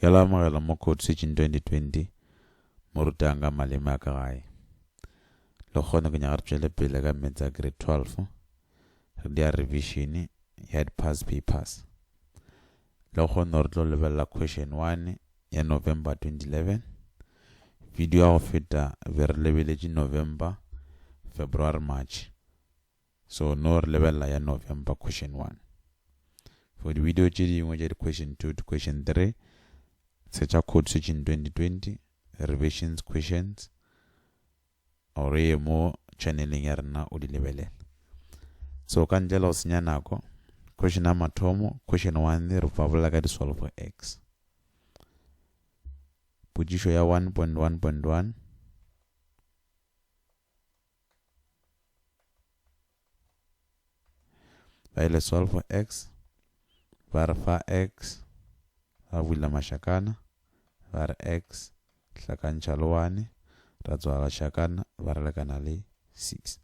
Bjalo amogela mo Code Switching 2020, mo rutang ka maleme a ka gae. Le kgone ke nyaga re tšwele pele ka meetse a Grade 12, re dia revision ya di past papers. Le kgone re tlo lebelela Question 1 ya November 2011. Video ya go feta be re lebeletše November, February, March. So no re lebelela ya November question one. For di video tše dingwe tša di question two to question three, searcha code switching 2020, revisions questions, or ye mo channeleng ya rena o di lebelela. So ka ntle la go senya nako, question ya mathomo, question one re fabolela ka di solve x. Potšišo ya 1.1.1 ba ile solve x ba re fa x ba bula mašakana ba re x hlakantšha le 1 ra tswa gašakana ba re lekana le 6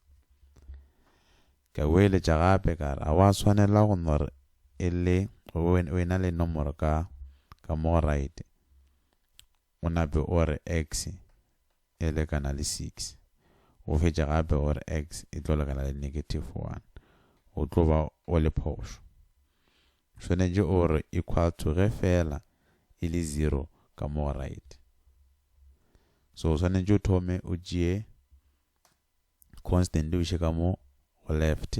ka boeletša gape ka re a wa swanela go nore e le o ena le nomoro ka ka mo right o nape o re x e lekana le 6, o fetše gape o re x e tlo lekana le negative 1, o tlo ba o le phošo. Swanetše o re equal to ge feela e le 0 ka mo right. So o swanetše o thome o tšee constant o iše ka mo go left,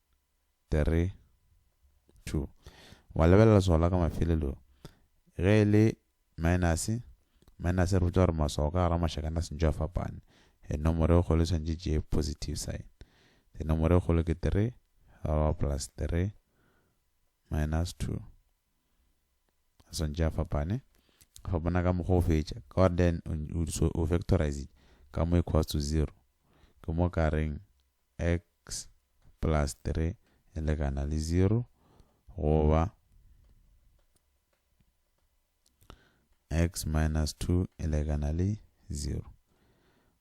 3 2 wa lebelela leswao la ka mafelelo ge e le minus minus re botsa gore maswao ka gara mašakana a sentšo a fapane e nomoro e kgolo tshwantše tše positive sign e nomoro e kgolo ke 3 ra plus 3 minus 2 a swantše a fapane fa bona ka mokgwa o fetša ka gore then o factorize ka mo equals to 0 ke mo ka reng X plus 3 e lekana le 0, goba X minus 2 e lekana le 0.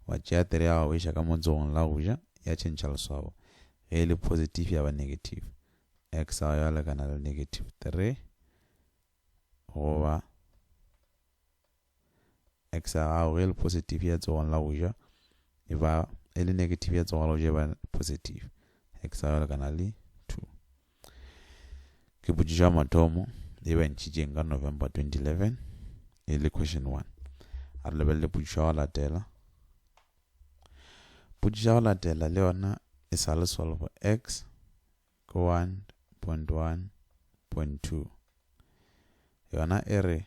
Wa tšea 3 ya gago iša ka montsogong la go ja, ya tšhentšha leswabo. Ge e le positive ya ba negative. X ya ya lekana le negative 3, goba X ya gago ge le positive ya tsogong la go ja e ba e le negative ya tsogong la go ja e ba positive X ya gago kana le 2 ke potšišo ya mathomo e ba ntšhitšeng ka November 2011 e le question 1 a re lebelele potšišo ya go latela potšišo ya go latela le yona e sa le solve X ke 1.1.2 yona e re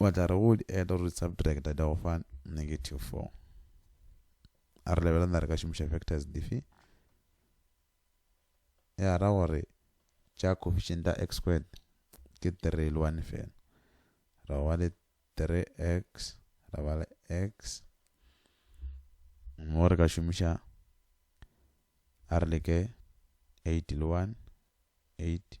wa tla re go di add or di subtract di go fa negative 4 a re lebelana re ka šomiša factors dife ya ra gore tša coefficient ya x squared ke 3 le 1 fela ra ba le 3x ra ba le x mo re ka šomiša a re leke 8 le 1 8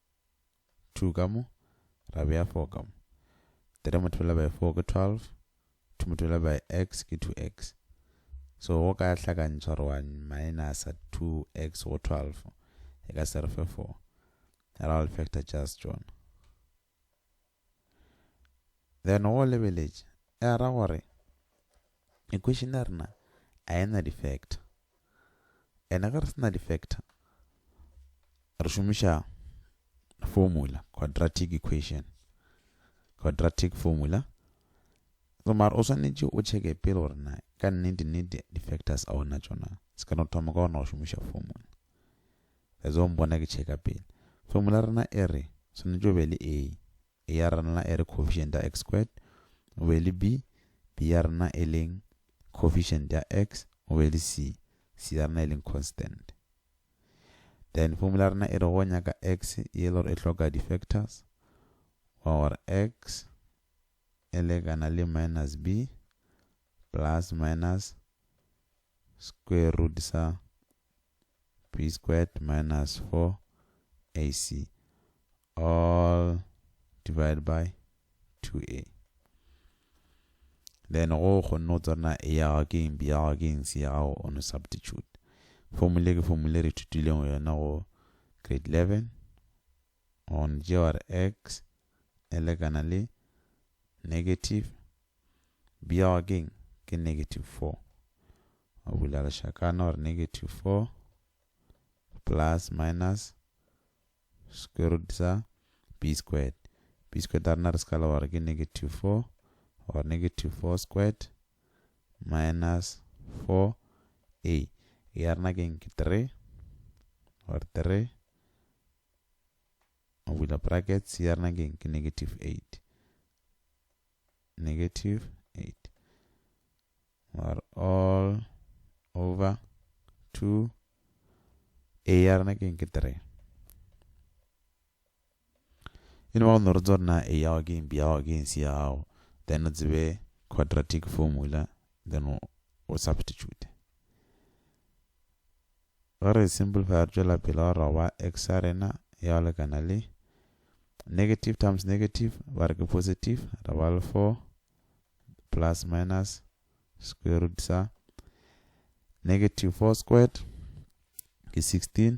two ka mo ra bea four ka mo three multiply by four ke twelve two multiply by x ke two x so go ka hlakantšha gore wa minus two x go twelve e ka se re fe four ra all factor just tsona Then o lebeletše, e a ra gore equation ya rena a e na di-factor. Ene ge re sena di-factor, re šomiša formula, quadratic equation. Quadratic formula. So mara o swanetše o checke pele gore na ka nnete nnete di-factors a ona tšona. Se ka no thoma ka ona go šomiša formula. le zo mbona ke tšheka pele. Formula ya rena e re, swanetše o be le A. A ya rena e re coefficient ya x squared, o be le B. B ya rena e leng coefficient ya x, o be le C. C ya rena e leng constant. Then formula ya rena e re go nyaka x e le gore e hloka di-factors, wa gore x e lekana le minus b plus minus square root sa b squared minus 4ac all divided by 2a then go kgonne go tsona a ya ga ke eng b ya ga ke eng c ya gago o no substitute formula ke formula re ithutileng yona go grade 11 Gon Jeor X e lekana le negative Bjao ke eng? Ke negative 4. O bula lešakana gore negative 4 plus minus square root sa b squared. b squared a rena re sekala gore ke negative 4 or negative 4 squared minus 4 a ya rena ke eng? Ke 3 or 3 o bula brackets ya rena ke ke negative 8 negative 8 are all over 2 a ya rena ke ke 3 e ne ba go norotsa gore na a yago ke mpi yago ke nsi yago then o tsebe quadratic formula then o substitute Ge re simplifya re tšwela pele wa re go ba X-arena ya go lekana le negative times negative ba re ke positive ra ba le 4 plus minus square root sa negative 4 squared ke 16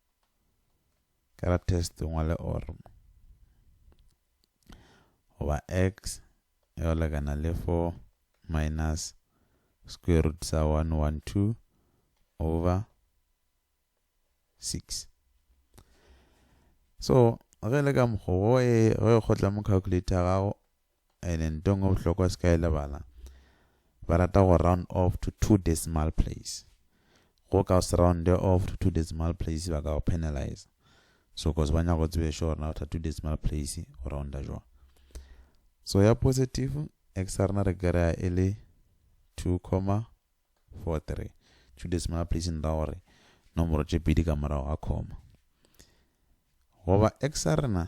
ka ra test o ngwale or goba x e go lekana le 4 minus square root sa 112 over 6 so ge le ka mokgwa go e kgotla mo calculator gago ene nto engwe bohlokwa se ka e lebala ba rata go round off to two decimal place go ka se round off to two decimal place ba ka go penalize so cause ba nyaka go tsebe sure gore na after two decimal place go rounda jwa so ya positive x rena re kry-a e le two comma four three two decimal place nra gore nomoro tše pedi ka morago ga comma goba x rena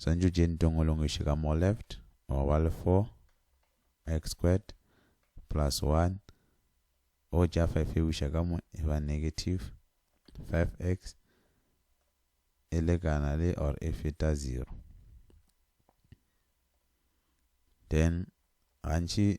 Swantšo tše ntongolong iše ka mo left wa ba le 4 x squared plus 1 o tša 5 e buša ka mo e ba negative 5x e lekana le or e feta 0 then gantši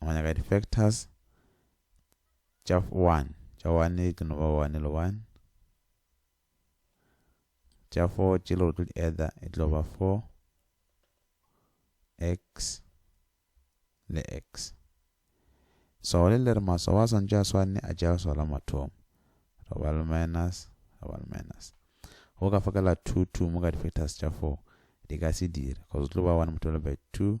Go nyaka di factors tša one. Tša one ke no ba one le one. Tša four tše le go tlo di ether e tlo ba four x le x. So le le re maswao a swantše a swane a tša leswao la mathomo. Re ba le minus, re ba le minus. Go ka fakela two two mo ka di factors tša four di ka se dire because tlo ba one multiplied by two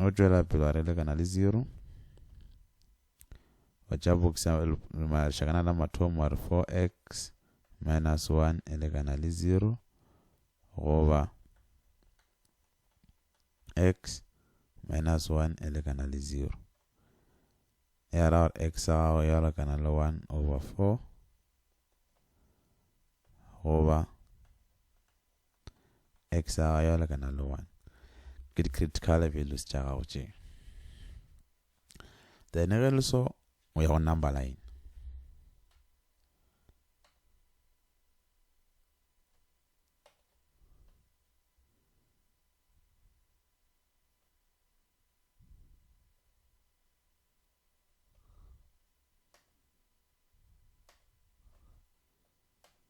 o tšwela pele wa re lekana le zero wa tša boxa lešakana la mathomo wa re 4x minus 1 e lekana le zero goba x minus 1 e lekana le zero ya ra gore x ya gago ya lekana le 1 over 4 goba X ya gago ya lekana le 1. Ke di-critical values tša gago tše. Then ge le so, o ya go number line.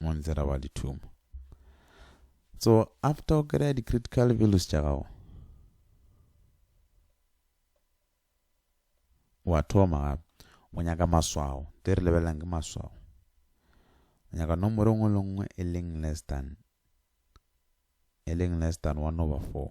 mo ntse ra ba le thumo so after o kry-a di-critical values tša gago wa thoma gape o nyaka maswao te re lebelelang ke maswao o nyaka nomoro e nngwe le nngwe e leng less than e leng less than one over four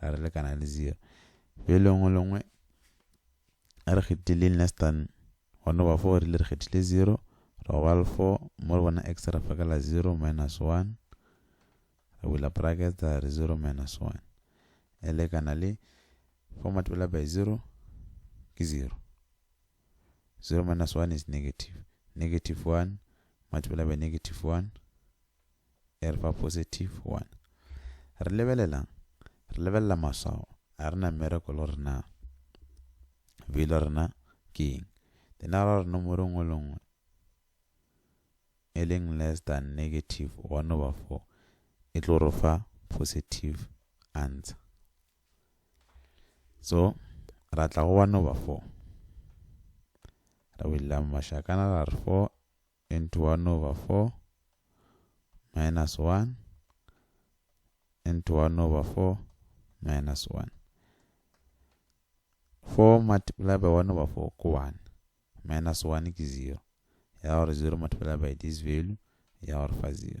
ra re lekana le zero bjo lengwe lengwe re kgethile less than gona ba four rile re kgethile zero ra go ba le four mo re bona x ra fakela zero minus one re bula bracket ra re zero minus one e lekana le four multiply by zero ke zero 0 minus 1 is negative negative 1 multiplied by negative 1 e re fa positive 1 re lebelelang re lebelela maswao a re na mmereko le gore na velo rena ke eng dinara gore nomoro nngwe le nngwe e leng less than negative 1 over 4 e tlo re fa positive answer so ra tla go one over four ra willa mašakana ra re four into one over four minus one into one over four minus one four multiply by one over four ko one minus one ke zero ya gore zero multiply by this value ya gore fa zero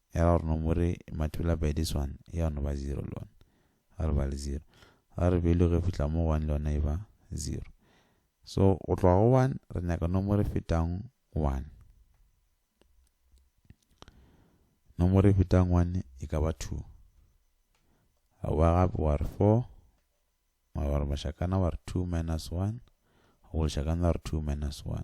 Ya ra gore no more matula by this one ya no ba zero le one ga re ba le zero ga re value ge fihla mo one le yona e ba zero so go tloga go one re nyaka nomoro e fetang one nomoro e fetang one e ka ba two ga wa gape wa re four wa gore mashakana wa re two minus one go leshakana wa re two minus one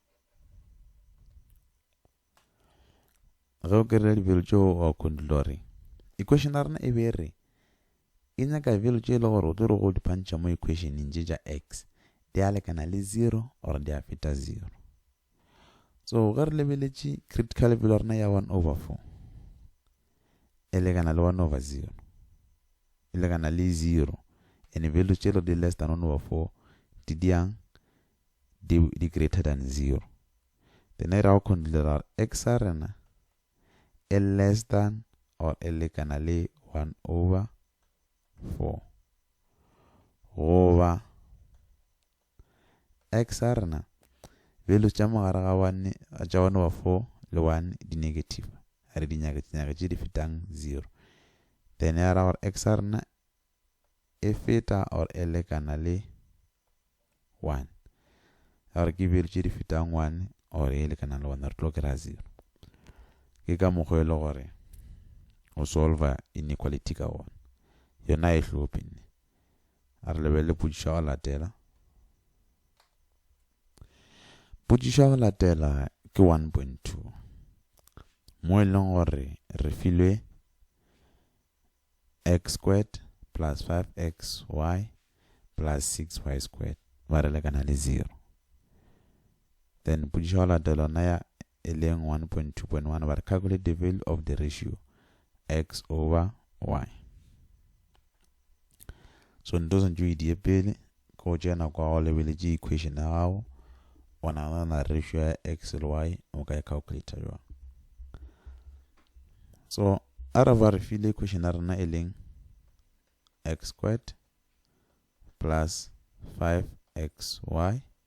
ge o kry-a dibelo tšeo wa kundula gore equation ya rena e be re e nyaka belo tše e le gore o tlo re go di phantšha mo equationeng tše tša x di a lekana le zero or di a feta zero so ge re lebeletše critical belo rena ya one over four e lekana le one over zero e lekana le zero and belo tše di less than one over four di diang di, di greater than zero. Then e ra go considera x a rena e less than or e lekana le 1 over 4 goba x a rena values tša mogare ga 1 tša 1 over 4 le 1 di negative a re dinyake tse di fetang 0 then ya ra gore x a rena e feta or e lekana le 1 ya gore ke value tše di fetang 1 or e lekana le 1 re tlo kry-a 0 ke ka mokgwa e le gore o solver inequality ka wona yona e hlophe nne a re lebelele potšišo ya go latela potšišo ya go latela ke 1.2 mo e leng gore re filwe X squared plus 5xy plus 6y squared ba re lekana le 0. Then pudiša go latela ona ya e leng 1.2.1 ba re calculate the value of the ratio x over y. So nto sentse o e die pele ke go tšea nako ya go lebeletše equation ya gago o nagana ratio ya x le y o ka e calculator jwang so a re ba re file equation ya rena e leng x squared plus 5xy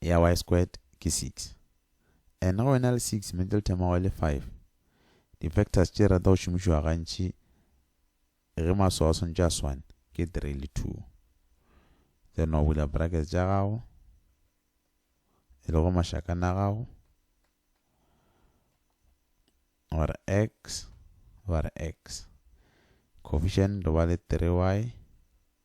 ya y squared ke 6 and ge o ena le 6 middle term wa go e le 5 di factors tše rata go šomišiwa gantši ge maswao a swantše a swane ke 3 le 2 then wa bula brackets tša gago e lego mašakana a gago wa re x wa re x coefficient ba le 3y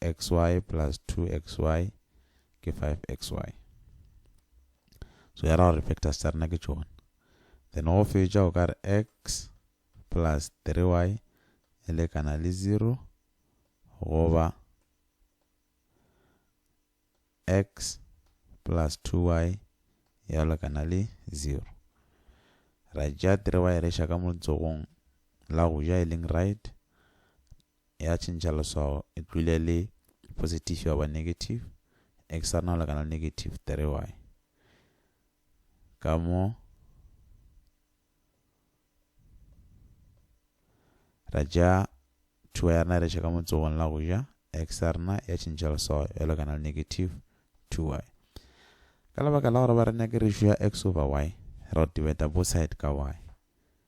xy plus 2xy ke 5xy. So ya ra gore factors tša rena ke tšona. Then go fetša o ka re x plus 3y e lekana le 0 goba x plus 2y ya lekana le 0. Ra tšea 3y re ša ka motsogong la go ja e leng right ya tšhentšha leswao e tlwile le positive ya ba negative x a no lekana negative 3y ka mo ra ja thuwa ya rena re šeka motsogong la go ja x a rena ya tšhentšha leswao ya lekana le negative 2y ka lebaka la gore ba re nyake ratio ya x over y ra o tibeta bo side ka y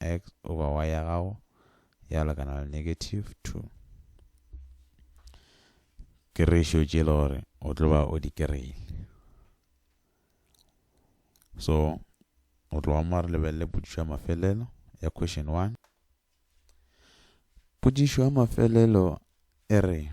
x over y ya gago ya lekana le negative 2 ke ratio tše le gore o tlo ba o di kereile so o tlo wa mo re lebelele potšišo ya mafelelo ya question 1 potšišo ya mafelelo e re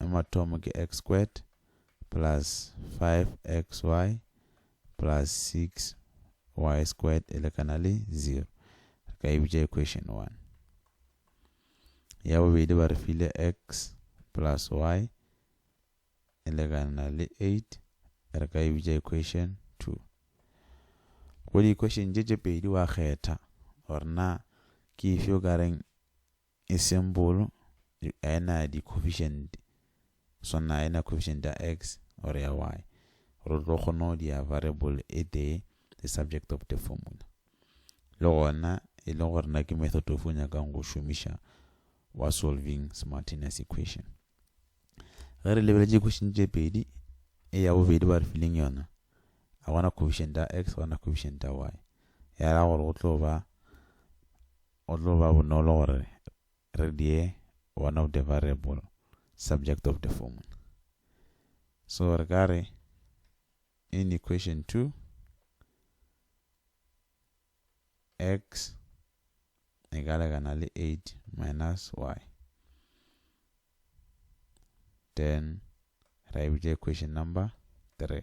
ya mathomo ke x squared plus 5xy plus 6y squared e lekana le 0 re ka e bitša equation 1 ya bobedi ba re file x plus y e lekana le 8 re ka e bitša equation 2 go di-equation tše tše pedi wa kgetha gore na ke efe o ka reng E simple, a e na di-coefficient, swana a e na coefficient ya x or ya y. Gore o tlo kgona go dia variable e tee, the subject of the formula. Le gona, e le gore na ke method of o nyakang go šomiša wa solving simultaneous equation. Ge re lebeletše question tše pedi, e ya bobedi ba re fileng yona, a gona coefficient ya x, gona coefficient ya y. Ya ra gore go tlo ba Go tlo ba bonolo gore re die one of the variable subject of the formula. So re ka re in equation 2 x e ka lekana le 8 minus y then ra e bitša equation number 3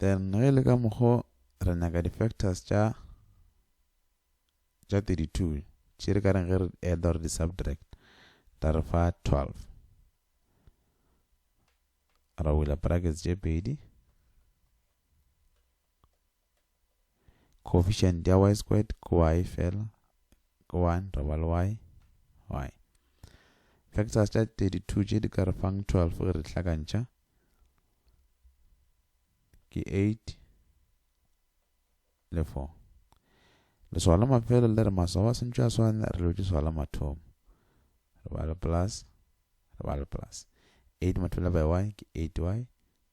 then ge e le ka mokgo re nyaka di-factors tša tša 32 tše re ka reng ge re add or di-subtract tla re fa 12 ra bula brackets tše pedi Coefficient ya y squared ke y fela ke 1 ra ba le y y. Factors tša 32 tše di ka re fang 12 ge re di hlakantšha ke 8 le 4. Leswao la mafelo le re maswao a sentšwe a swane re lotše swao la mathomo. Re ba le plus re ba le plus. 8 multiplied by y ke 8y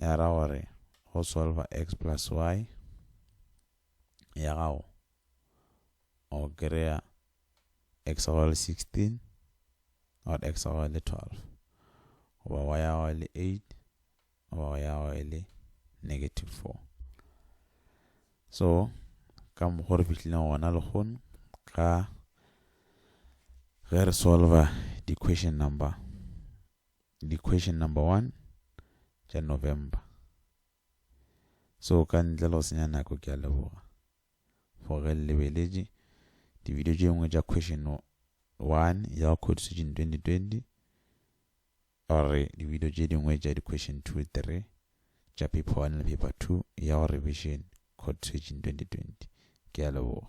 e ra gore go solva x plus y ya gago o kry-a x go le 16 or x go le 12 goba wa ya go le 8 goba wa ya go le negative 4 so ka mokgwa re fihlileng gona lehono ka ge re solva di-question number Di question number one tša November. So ka ntle le go senya nako ke a leboga for ge lebeletše di video tše dingwe tša question one ya go code switching 2020 or di video tše dingwe tša di question 2 3 tša paper one le paper two ya go revision code switching 2020 ke a leboga